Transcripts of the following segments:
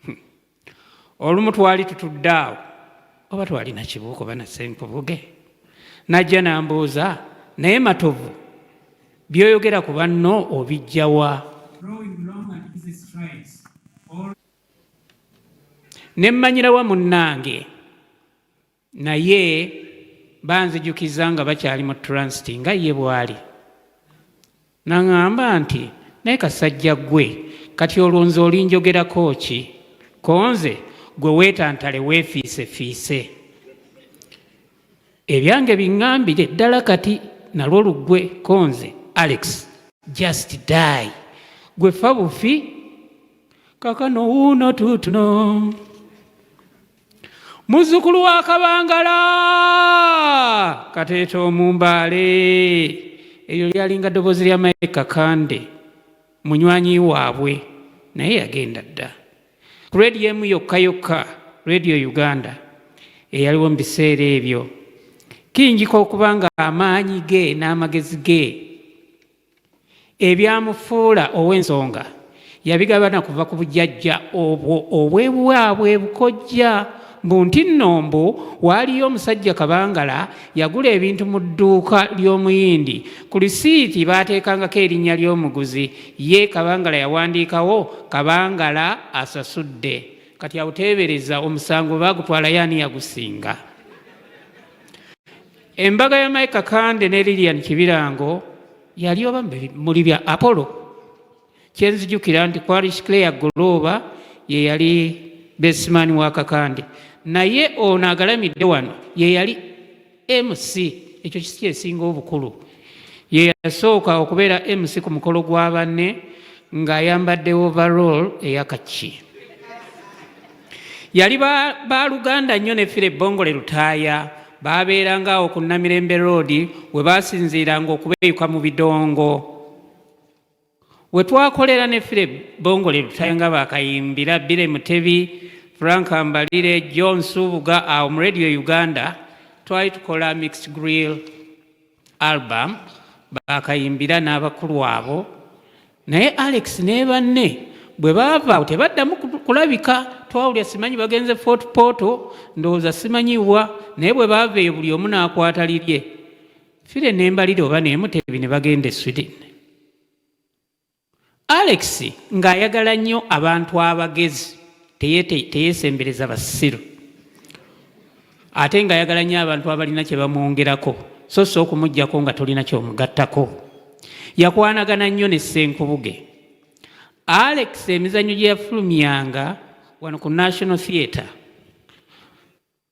hmm. olumu twali tutudde awo oba twalina kibuuka oba nasenkubuge najja nambuuza naye matovu byoyogera ku banno obijjawa nemmanyirawa munnange naye banzijukiza nga bakyali mu transit nga ye bwali naŋamba nti naye kasajja gwe kati olwo nze olinjogerako ki konze gwe weetantale weefiisefiise ebyange biŋambire ddala kati nalwo luggwe konze alex just die gwe fa bufi kakano wuuno tuutuno muzzukulu wa kabangala kateeta omumbaale eryo lyalinga ddoboozi lya mayi kakande munywanyi waabwe naye yagenda dda ku rediyo emu yokka yokka rediyo uganda eyaliwo mu biseera ebyo kiyinjika okuba nga amaanyi ge n'amagezi ge ebyamufuula ow'ensonga yabigabana kuva ku bujajja obwo obwebwabwe bukojja mbu nti nno mbu waaliyo omusajja kabangala yagula ebintu mu dduuka ly'omuyindi ku lisiiti baateekangako erinnya ly'omuguzi ye kabangala yawandiikawo kabangala asasudde kati awuteebereza omusango baagutwalayo ani yagusinga Embaga ya Mike Kakande ne Lilian Kibirango yali oba muli bya Apollo. Kyenzijukira nti kwali Claire Golooba ye yali besimani wa Kakande, naye ono agalamidde wano ye yali MC. Ekyo kisi kyesinga obukulu. Ye yasooka okubeera MC ku mukolo gwa banne ng'ayambadde overall eyakaki. yali baaluganda nnyo ne fire bongole lutaaya baabeeranga awo ku namirembe roodi we baasinziiranga okubeeyuka mu bidongo we twakolera ne fire bongole lutaaya nga baakayimbira bire mutebi frank mbalire john suubuga awo mu radio uganda twali tukola mixed grill album bakayimbira n'abakulu abo naye alex ne banne bwe baava tebaddamu kulabika twawulya simanyi bagenze fort porto ndowooza simanyiwa naye bwe baava eyo buli omu n'akwata lirye fire nembalire oba nemutebi ne bagenda e sweden Alex ng'ayagala nnyo abantu abagezi teyeesembereza basiru ate ng'ayagala nnyo abantu abalina kye bamwongerako so si okumugyako nga tolina kyomugattako yakwanagana nnyo ne ssenkubuge alex emizannyo gye yafulumyanga wano ku national theatre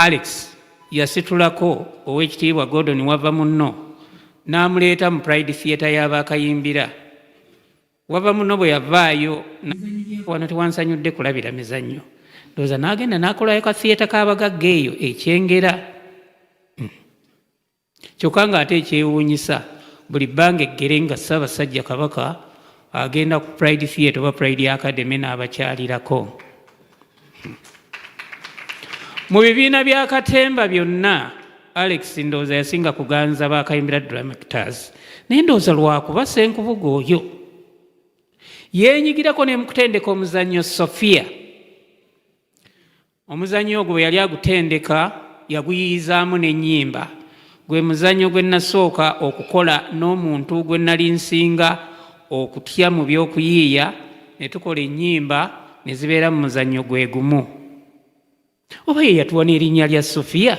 Alex yasitulako ow'ekitiibwa Gordon wava munno n'amuleeta mu Pride Theatre y'abaakayimbira wava muno bwe yavaayo wano tewansanyudde kulabira mizannyo ndowooza n'agenda n'akolayo ka theatre k'abagagga eyo ekyengera kyokka ng'ate ekyewuunyisa buli bbanga eggere nga ssaabasajja kabaka agenda ku pride theatre oba pride academy n'abakyalirako mu bibiina bya katemba byonna alex ndowooza yasinga kuganza bakayimbira dramactors naye ndowooza lwakuba senkubuga oyo yenyigirako nemukutendeka omuzannyo sofia Omuzannyo ogwo bwe yali agutendeka yaguyiyizaamu n'ennyimba. Gwe muzannyo gwe nnasooka okukola n'omuntu gwe nnali nsinga okutya mu by'okuyiiya ne tukola ennyimba ne zibeera mu muzannyo gwe gumu. Oba ye yatuwa n'erinnya lya Sofiya?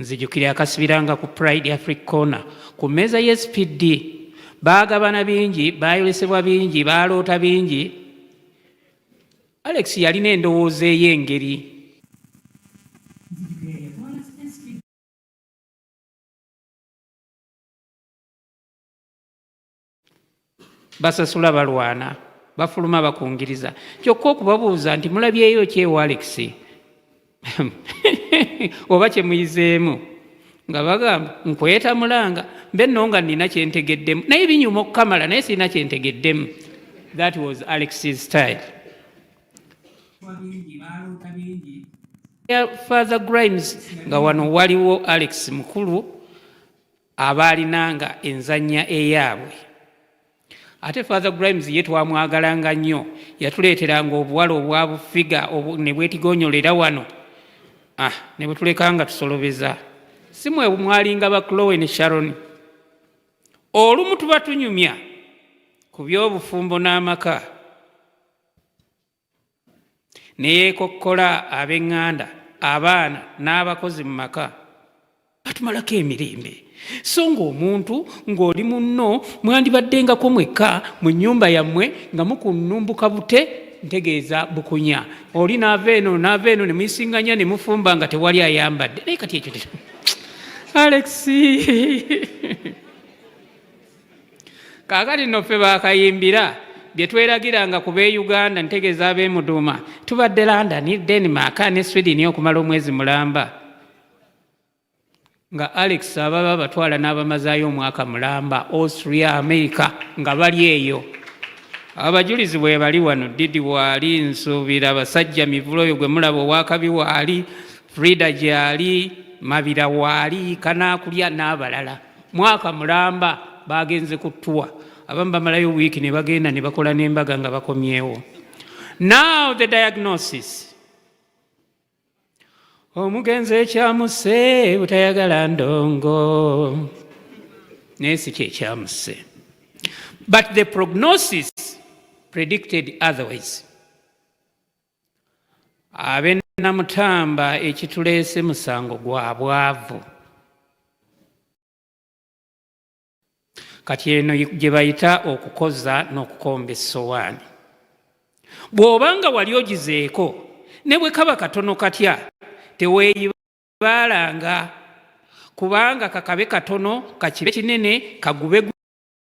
nzijukira akasibiranga ku pride afric corner ku mmeeza ye spd baagabana bingi baayolesebwa bingi baaloota bingi alex yalina endowooza ey'engeri basasula balwana bafuluma bakungiriza kyokka okubabuuza nti mulabyeyo kyewalekisi oba kyemuyizeemu nga bagamba nkweta mulanga mbe no nga nina kyentegeddemu naye binyuma okukamala naye sirina kyentegeddemu that was alex's style father grimes nga wano waliwo alex mukulu abaalinanga enzannya eyaabwe ate father grimes ye twamwagalanga nnyo yatuleeteranga obuwala obwa bufiga ne bwetigonyolera wano ah, ne bwetulekanga tusolobeza si mwe mwalinga ba clowe ne sharon olumu tuba tunyumya ku by'obufumbo n'amaka ne yeekokkola ab'eŋŋanda abaana n'abakozi mu maka batumalako emirembe so ng'omuntu ng'oli munno mwandibaddengako mwekka mu nnyumba yammwe nga mukunnumbuka bute ntegeeza bukunya oli naava eno naava eno ne muyisinganya ne mufumba nga tewali ayambadde naye kati ekyo alexi kaakati nno ffe bakayimbira bye tweragiranga ku b'e uganda ntegeeza ab'emuduuma tubadde london denmark ne sweden okumala omwezi mulamba nga alex ababa batwala n'abamazaayo omwaka mulamba austria america nga bali eyo abajulizi bwe bali wano didi waali nsuubira basajja mivula oyo gwe mulaba owakabi waali frida gyali mabira waali kanaakulya n'abalala mwaka mulamba bagenze ku tuwa abamu bamalayo wiiki ne bagenda ne bakola n'embaga nga bakomyewo now the diagnosis omugenzi ekyamuse butayagala ndongo naye si kyekyamuse but the prognosis predicted otherwise abe namutamba ekituleese musango gwa bwavu kati eno gye bayita okukoza n'okukomba essowaani bw'oba nga wali ogizeeko ne bwe kaba katono katya teweeyibaalanga kubanga kakabe katono kakibe kinene kagube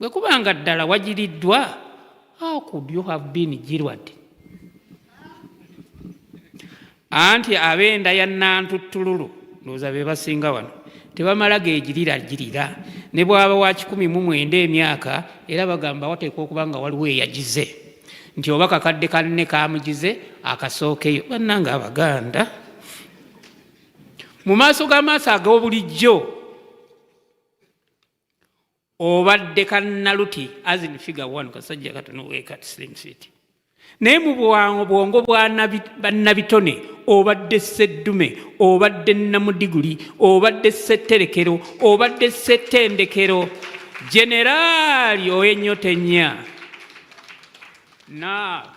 Bwe kuba nga ddala wagiriddwa, how could you have been jilwad? Anti ab'enda ya Nantuttululu ndowooza be basinga wano tebamala gegirira girira ne bwaba wa kikumi mu mwenda emyaka era bagamba wateekwa okuba nga waliwo eyagize nti oba kakadde kanne kamugize akasookeyo bannanga abaganda mu maaso g'amaaso ag'obulijjo obadde kannaluti azin figa one kasajja katono weka slim city naye mu bwango bwongo bannabitone obadde sseddume obadde namudiguli obadde ssetterekero obadde ssettendekero generaali owenyota ennya naa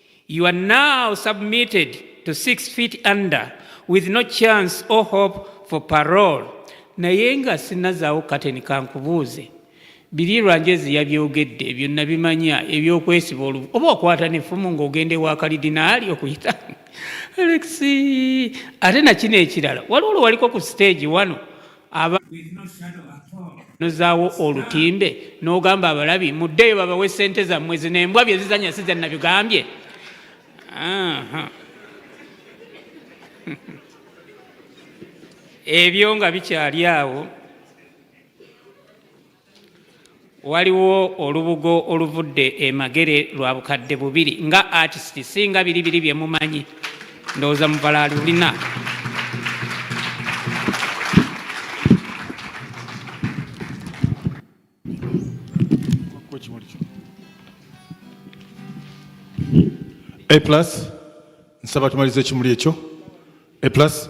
You are now submitted to six feet under with no chance or hope for parole. Naye nga sinazaawo kateni kankubuuze biri lwanjezi yabyogedde ebyo nabimanya ebyokwesiba olubu oba okwata nefumu ngaogenda ewa kalidinaali okuyita alex ate nakino ekirala waliwo lwe waliko ku siteegi wano aba nozaawo olutimbe n'ogamba abalabi muddeeyo babawe ssente zammwe zino embwa bye zizanya si ze nabigambye ebyo nga bikyali awo waliwo olubugo oluvudde emagere lwa bukadde bubiri nga artist singa biri biri bye mumanyi ndowooza muvala alulina A plus nsaba tumalize ekimuli ekyo A plus